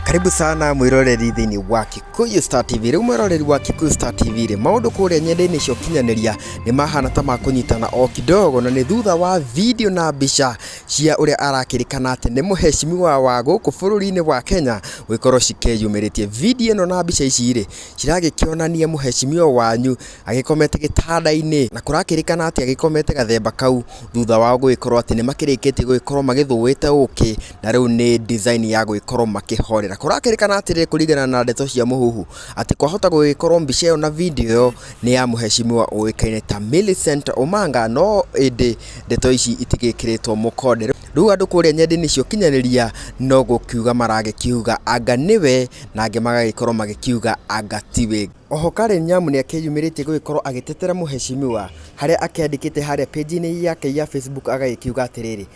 karibu sana mwiroreri thĩinĩ wa Kikuyu Star TV rĩu mwiroreri wa Kikuyu Star TV rĩ maũndũ kũrĩa nyendainĩ cia ũkinyanĩria nĩ mahana ta makũnyitana o kidogo na nĩ thutha wa video na mbica cia ũrĩa arakĩrĩkana atĩ nĩ mũheshimiwa wa gũkũ bũrũri-inĩ wa Kenya gũgĩkorwo cikeyumĩrĩtie video ĩno na mbica ici rĩ ciragĩkĩonania mũheshimiwa wanyu agĩkomete gĩtanda-inĩ na kũrakĩrĩkana atĩ agĩkomete gathemba kau thutha wao gũgĩkorwo atĩ nĩ makĩrĩkĩtie gũgĩkorwo magĩthũĩte ũkĩ na rĩu nĩ design ya gwĩkorwo makĩhorera. Kũrakĩrĩkana atĩrĩrĩ kũringana na ndeto cia Mũhuhu, atĩ kwahota gũgĩkorwo mbica ĩyo na video ĩyo nĩ ya mũhecimiwa ũĩkaine ta Millicent Omanga, no ĩndĩ ndeto ici itigĩkĩrĩtwo mũkonde. Rĩu andũ kũrĩa nenda-inĩ cia ũkinyanĩria no gũkiuga maragĩkiuga anga nĩwe, na angĩ magagĩkorwo magĩkiuga anga tiwe. Oho Karen Nyamu nĩ akĩyumĩrĩtie gũgĩkorwo agĩtetera mũhecimiwa, harĩa akĩandĩkĩte harĩa page-inĩ yake ya Facebook agagĩkiuga atĩrĩrĩ,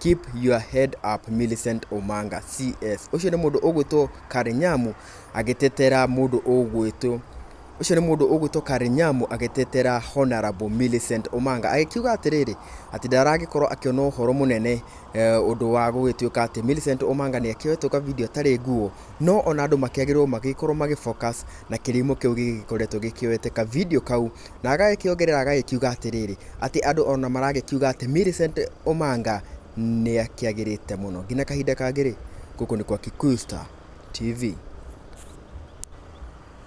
Keep your head up Millicent Omanga CS. Ũcio nĩ mũndũ ũgwĩtwo Karinyamu agĩtetera mũndũ ũgwĩtwo ũcio nĩ mũndũ ũgwĩtwo Karinyamu agĩtetera Honorable Millicent Omanga agĩkiuga atĩrĩrĩ atĩ ndaragĩkorwo akĩona ũhoro mũnene eh, ũndũ wa gũgĩtuĩka atĩ Millicent Omanga nĩ akĩoetwo ka video atarĩ nguo no ona andũ makĩagĩrĩrwo magĩkorwo magĩ focus na kĩrimũ kĩu gĩgĩkoretwo gĩkĩoete ka video kau Na agagĩkĩongerera agagĩkiuga atĩrĩrĩ, atĩ andũ ona maragĩkiuga atĩ Millicent Omanga nĩ akĩagĩrĩte mũno. Nginya kahinda kangĩ rĩ, gũkũ nĩ kwa Kikuyu Star TV.